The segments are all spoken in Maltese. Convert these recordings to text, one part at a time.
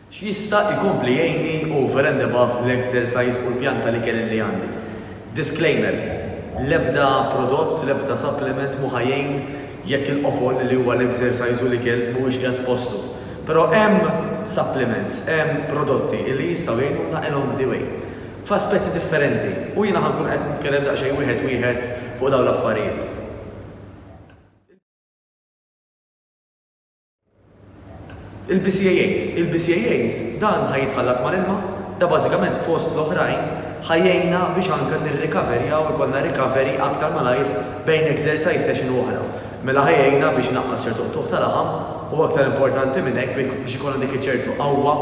X'jista' jkompli jgħinni over and above l-exercise u l-pjan tal-ikel li għandi? Disclaimer, L-ebda prodott, l-ebda supplement mhu ħa jgħin jekk il-qofol li huwa l-exercise u l-ikel mhuwiex qiegħed f'postu. Però hemm supplements, hemm prodotti li jistgħu jgħinuna along the way. F'aspetti differenti. U jiena ħa nkun qed nitkellem daqsxejn wieħed wieħed fuq dawn l-affarijiet. Il-BCAAs, il-BCAAs dan ħa jitħallat mal-ilma, da bażikament fost l-oħrajn ħa jgħinna biex anke nirrikaverjaw ikollna recovery aktar malajr bejn exercise session u oħra. Mela ħa jgħinna biex inaqqas ċertu qtugħ ta' laħam u aktar importanti minn hekk biex ikollna dik iċ-ċertu qawwa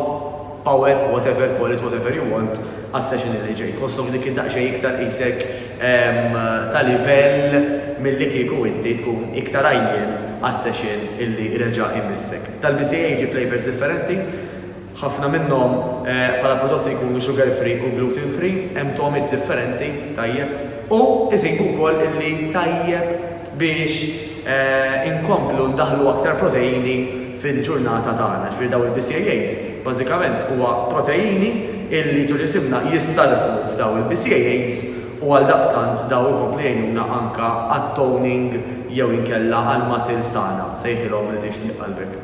power, whatever, call it whatever you want, għas-session li ġej. Tħosshom dik id-daqsxejn iktar qisek ta' livell milli kieku inti tkun iktar għajjien għas-session li reġa' imissek. Tal-BCAA jiġi flavours differenti, ħafna minnhom bħala prodotti jkunu sugar free u gluten free, hemm togħmiet differenti, tajjeb. U iżidu wkoll illi tajjeb biex inkomplu ndaħħlu aktar proteini fil-ġurnata tagħna. Ġifieri dawn il-BCAAs bażikament huwa proteini illi ġoġisimna jissarrfu f'dawn il-BCAAs u għaldaqstant dawn ikomplu jgħinuna anke għat-toning jew inkella għall-muscles tagħna, sejħilhom li tixtieq qalbek.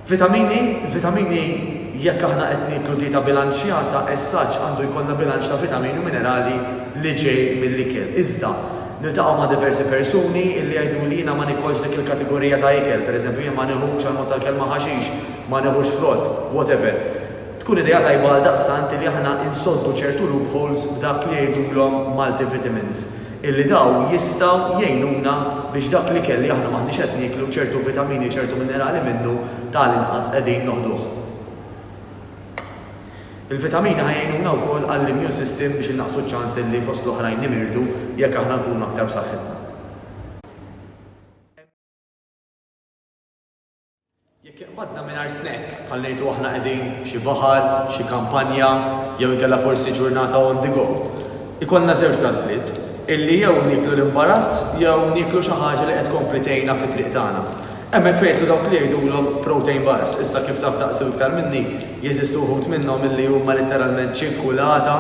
Vitamini, vitamini jekk aħna qed nieklu dieta bilanċjata, essaġġ għandu jkollna bilanċ ta' vitamini u minerali li ġej mill-ikel. Iżda, niltaqgħu ma' diversi persuni li jgħidu li jiena ma nikolx dik il-kategorija ta' ikel, pereżempju jien ma nieħux għal mod tal-kelma ħaxix, ma nieħux frott, whatever. Tkun idea tajba għaldaqstant li aħna insoddu ċertu loopholes b'dak li jgħidulhom multivitamins. illi dawn jistgħu jgħinuna biex dak l-ikel li aħna m'aħniex qed nieklu, ċertu vitamini, ċertu minerali minnu ta' l-inqas qegħdin noħduh. Il-vitamini ħa jgħinuna wkoll għall-immune system biex innaqqsu ċ-ċans illi fost l-oħrajn nimirdu jekk aħna nkunu aktar b'saħħitna. Jekk iqbadna mingħajr snack, bħal ngħidu aħna qegħdin xi baħar, xi kampanja, jew inkella forsi ġurnata on the go, ikollna żewġ għażliet, illi jew nieklu l-imbarazz jew nieklu xi ħaġa li qed tkompli tgħinna fit-triq tagħna. Hemmhekk fejn jidħlu dawk li jgħidulhom protein bars, issa kif taf daqsi u iktar minni, jeżistu wħud minnhom illi huma litteralment ċinkulata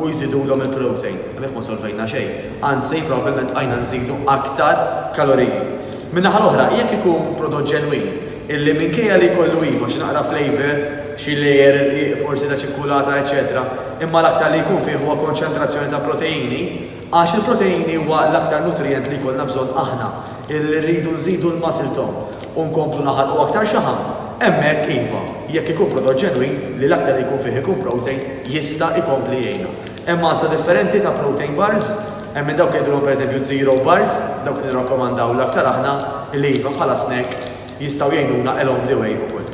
u jżidulhom il-protein. Hemmhekk ma solvejna xejn, anzi probabbilment bqajna nżidu aktar kaloriji. Min-naħa l-oħra, jekk ikun prodott ġenwin, illi minkejja li jkollu iva xi naqra flavour, xi layer rqiq forsi ta' ċikkulata eċċetera, imma l-aktar li jkun fih huwa konċentrazzjoni ta' proteini, għax il-proteini huwa l-aktar nutrijent li jkollna bżonn aħna illi rridu nżidu l-muscle tone u nkomplu naħarqu aktar xaħam, hemmhekk iva, jekk ikun prodott ġenwin li l-aktar li jkun fih ikun protein jista' jkompli jgħinna. Hemm għażla differenti ta' protein bars, hemm minn dawk li jidhirhom pereżempju zero bars, dawk li nirrakkomandaw l-aktar aħna, illi iva bħala snack jistgħu jgħinuna along the way ukoll.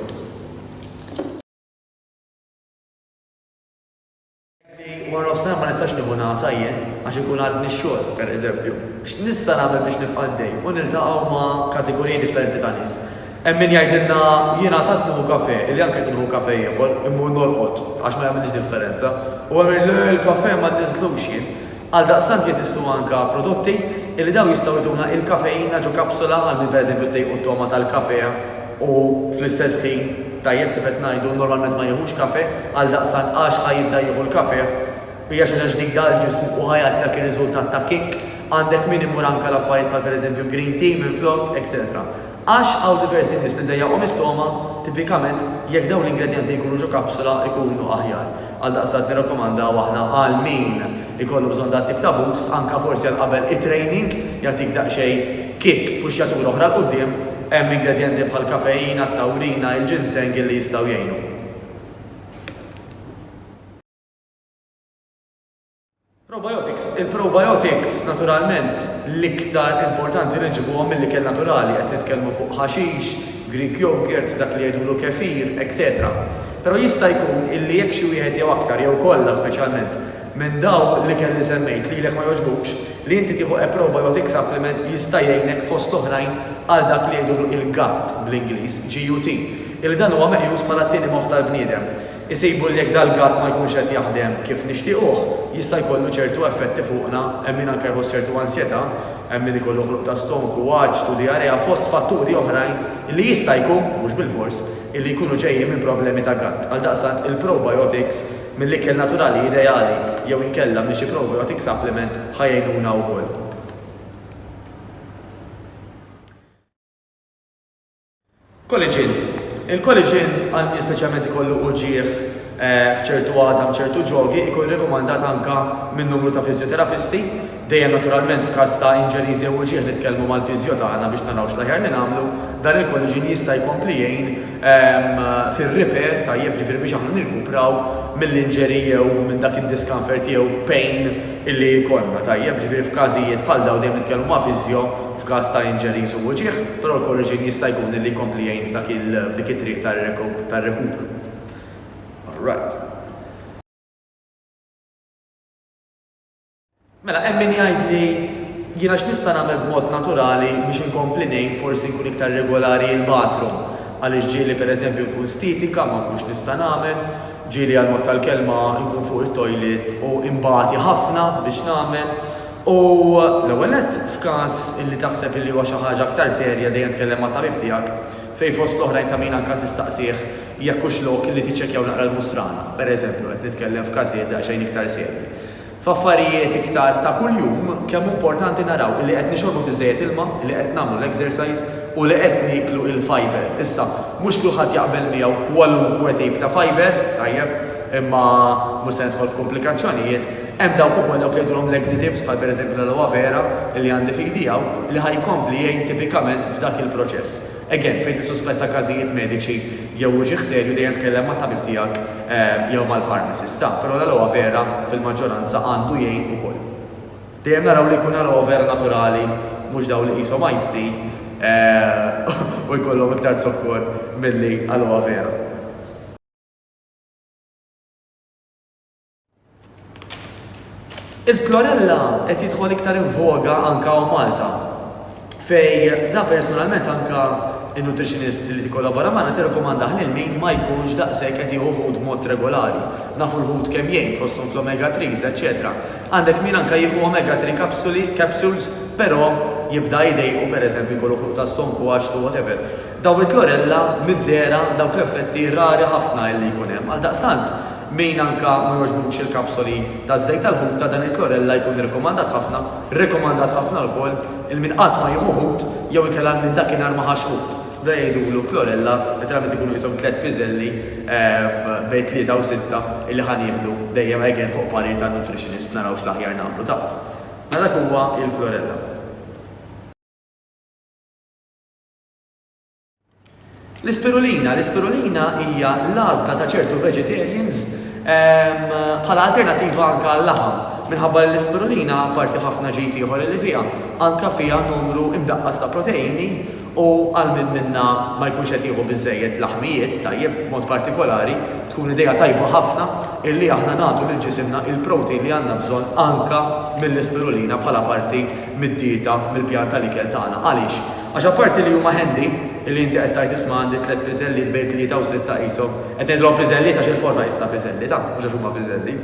Kelli warnofsinhar ma nistax nieħu ngħasa jien għax inkun għadni x-xogħol, pereżempju. X'nista' nagħmel biex nibqa' għaddej u niltaqgħu ma' kategoriji differenti ta' nies? Hemm min jgħidilna, Jien għad qatt nieħu kafè, li anke jekk nieħu kafè ieħor, immur norqod, għax ma jagħmilx differenza. U hemm min, Le, l-kafè ma nniżżlux jien. Għaldaqstant jeżistu anke prodotti li dawn jistgħu jtuna il-kafeina ġo kapsula għal min pereżempju ddejqu t-togħma tal-kafè u fl-istess ħin, tajjeb, kif qed ngħidu, normalment ma jieħux kafè, għaldaqstant għax ħa jibda jieħu l-kafè? Hija xi ħaġa ġdida għall-ġismu u ħa jagħti dak ir-riżultat ta' kick. Għandek min imur anke għal affarijiet bħal pereżempju green tea minflok, etc. Għax hawn diversi nies li ddejjaqhom it-togħma, tipikament jekk dawn l-ingredjenti jkunu ġo kapsula jkunu aħjar. Għaldaqstant nirrakkomandaw aħna għal min ikollu bżonn dat tip ta' boost, anke forsi għal qabel it-training, jagħtik daqsxejn kick, puxxjatura oħra 'l quddiem, hemm ingredjenti bħall-kafeina, t-tawrina, il-ginseng illi jistgħu jgħinu. Probiotics, il-probiotics naturalment l-iktar importanti li nġibuhom mill-ikel naturali, qed nitkellmu fuq ħaxix, Greek yogurt, dak li jgħidulu kefir, etc. Però jista' jkun illi jekk xi wieħed jew aktar jew kollha speċjalment minn dawn l-ikel li semmejt lilek ma jogħġbukx, li inti tieħu a probiotic supplement jista' jgħinek fost l-oħrajn għal dak li jgħidulu il-gatt bl-Ingliż, GUT, illi dan huwa meqjus bħala t-tieni moħħ tal-bniedem. isibu li jekk dal-gatt ma jkunx qed jaħdem kif nixtiequh, jista' jkollu ċertu effetti fuqna, hemm min anke jħoss ċertu ansjetà, hemm min ikollu ħluq ta' stonku, għatx u dijarea fost fatturi oħrajn li jista' jkun, mhux bilfors, li jkunu ġejjin minn problemi ta' gatt. Għaldaqstant, il-probiotics mill-ikel naturali ideali jew inkella minn xi probiotic supplement ħa jgħinuna wkoll. Koliġin, Il-koliġin, anki speċjalment ikollu uġigħ f'ċertu għadam, ċertu ġogi, ikun rekomandat anke minn numru ta' fiżjoterapisti, dejjem naturalment f'każ ta' injuries jew uġigħ nitkellmu mal-fiżjo tagħna biex naraw x'l-aħjar li nagħmlu, dan il-koliġin jista' jkompli jgħin fir-repair tajjeb, jiġifieri biex aħna nirkupraw mill-injury jew minn dak id-discomfort jew pain illi jkollna tajjeb, jiġifieri f'każijiet bħal dawn dejjem nitkellmu ma' fiżjo, f'każ ta' injuries u uġigħ, però l-Corrigen jista' jkun illi jkompli jgħin f'dak il f'dik it-triq tar-rekupru. All right. Mela hemm min jgħidli, jiena x'nista' nagħmel b'mod naturali biex inkompli ngħin forsi nkun iktar regolari il-bathroom għaliex ġieli per eżempju nkun stitika ma nkunx nista' nagħmel, ġieli għall-mod tal-kelma nkun fuq it-toilet u inbati ħafna biex nagħmel. U, l-ewwel nett, f'każ li taħseb li huwa xi ħaġa aktar serja dejjem tkellem mat-tabib tiegħek, fejn fost l-oħrajn ta' min anke tistaqsih jekk hux lok li tiċċekkjaw naqra l-musrana, pereżempju, qed nitkellem f'każijiet daqsxejn iktar serji. F'affarijiet iktar ta' kuljum, kemm hu importanti naraw li qed nixorbu biżżejjed ilma, li qed nagħmlu l-exercise u li qed nieklu l-fibre. Issa, mhux kulħadd jaqbel miegħu kwalunkwe tip ta' fibre, tajjeb, imma mhux se nidħol f'kumplikazzjonijiet, Hemm dawk ukoll dawk li jgħidulhom laxatives bħal pereżempju l-aloe vera li għandi f'idi hawn li ħa jkompli jgħin tipikament f'dak il-proċess. Again, fejn tissuspetta każijiet mediċi jew uġigħ serju dejjem tkellem mat-tabib tiegħek jew mal-pharmacist ta', però l-aloe vera fil-maġġoranza għandu jgħin ukoll. Dejjem naraw li jkun aloe vera naturali mhux dawn li qishom iced tea u jkollhom iktar zokkor milli aloe vera. Il-chlorella qed jidħol iktar in voga anke hawn Malta. Fej da personalment anke in-nutritionist li tikkollabora magħna tirrekomandah lil min ma jkunx daqshekk qed jieħu ħut mod regolari. Nafu l-ħut kemm jgħin fosthom fl-omega 3s, eċetera. Għandek min anke jieħu omega 3 kapsuli, capsules, però jibda jdejqu pereżempju jkollu ħruq ta' stonku, għaxtu, whatever. Dawn il-klorella mid-dehra, dawk l-effetti rari ħafna illi jkun hemm. Għaldaqstant, min anka ma jogħġbux il-kapsoli taż-żejt tal-ħuta, dan il-klorella jkun irrikomandat ħafna, rekomandat ħafna wkoll, 'il min qatt ma jieħu ħut jew inkella 'il min dakinhar ma ħax ħut. Dan jgħidulu klorella, letteralment ikunu qishom tliet piżelli bejn tlieta u sitta illi ħa nieħdu, dejjem again fuq parir tan-nutritionist naraw x'l-aħjar nagħmlu ta'. Mela dak huwa il-klorella. L-ispirulina, l-ispirulina hija l-għażla ta' ċertu vegetarians ehm, bħala alternattiva anke għall-laħam. Minħabba li l-ispirulina, parti ħafna ġejt ieħor li fiha, anke fiha numru imdaqqas ta' proteini u għal minn minna ma jkunx qed jieħu biżejjed laħmijiet tajjeb mod partikolari, tkun idea tajba ħafna illi aħna nagħtu lil ġisimna il-protein li għandna bżonn anke mill-ispirulina bħala parti mid-dieta mill-pjanta li ikel tagħna. Għaliex? Għax apparti li huma handy, li inti qed tgħid isma' għandi tliet piżelliet bejn tlieta u sitta qishom, qed ngħidilhom piżelliet għax il-forma qisitha piżellita, mhux għax huma piżelli,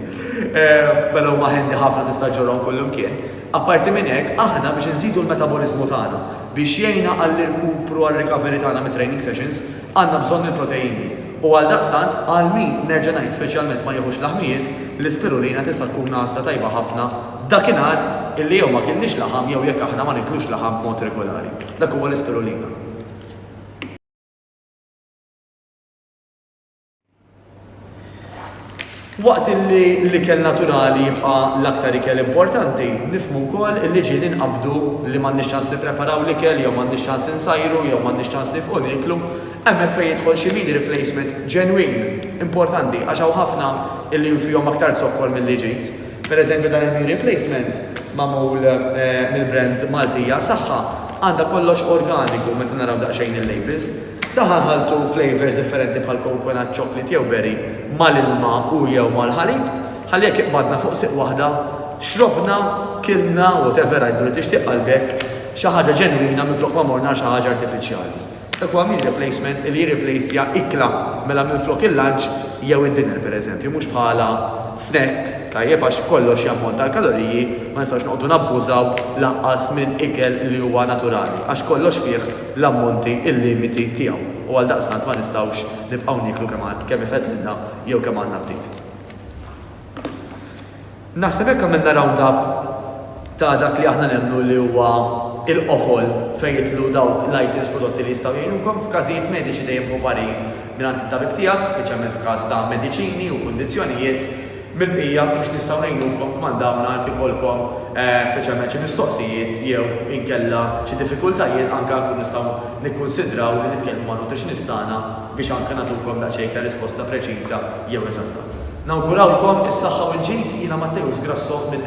mela huma handy ħafna tista' ġġorhom kullimkien. Apparti minn hekk, aħna biex inżidu l-metaboliżmu tagħna, biex jgħinna għall-irkupru għar-recovery tagħna mit-training sessions, għandna bżonn il-proteini. U għaldaqstant, għal min, nerġa' ngħid, speċjalment ma jieħux laħmijiet, l-ispirulina tista' tkun għażla tajba ħafna Dakinhar, illi jew ma kienniex laħam jew jekk aħna ma niklux laħam b'mod regulari. Dak huwa l-ispirulina. Waqt illi l-ikel naturali jibqa' l-aktar ikel importanti, nifhmu wkoll illi ġieli nqabbdu li m'għandniex ċans nippreparaw l-ikel jew m'għandniex ċans insajru jew m'għandniex ċans nifqu nieklu, hemmhekk fejn jidħol xi meal replacement ġenwin, importanti, għax hawn ħafna illi fihom aktar zokkor milli ġid. Pereżempju dan il-knee replacement magħmul mill-brand Maltija Saħħa għandha kollox organiku meta naraw daqsxejn il-labels. Daħal ħaltu flavors differenti bħal coconut, chocolate jew berry mal-ilma u jew mal-ħalib ħalli jekk iqbadna fuq siq waħda xrobna, kilna, whatever għidlu li tixtieq qalbek, xi ħaġa ġenwina minflok ma morna għal xi ħaġa artifiċjali. Huwa meal replacement li jirriplejsja ikla, mela minflok il-lunch jew id-dinner pereżempju, mhux bħala snack, tajjeb, għax kollox jammont għal kaloriji, ma nistgħux noqogħdu nabbużaw lanqas minn ikel li huwa naturali, għax kollox fih l-ammonti, il-limiti, tiegħu u għaldaqstant ma nistgħux nibqgħu nieklu kemm ifeddlilna jew kemm għandna aptit. Naħseb hekk għamilna round up ta' dak li aħna nemmnu li huwa l-qofol fejn jidħlu dawk l-items prodotti li jistgħu jgħinukom f'każijiet mediċi dejjem ħu parir mingħand it-tabib tiegħek, speċjalment f'każ ta' mediċini u kundizzjonijiet, mill-bqija fiex nistgħu ngħinukom kmandawna jekk ikollkom speċjalment xi mistoqsijiet jew inkella xi diffikultajiet anke nkunu nistgħu nikkunsidraw li nitkellmu man-nutritionist tagħna. biex anke nagħtukom daqsxejn ta' risposta preċiża jew eżatta. Nawgurawlkom is-saħħa u l-ġid, jiena Matteus Grasso minn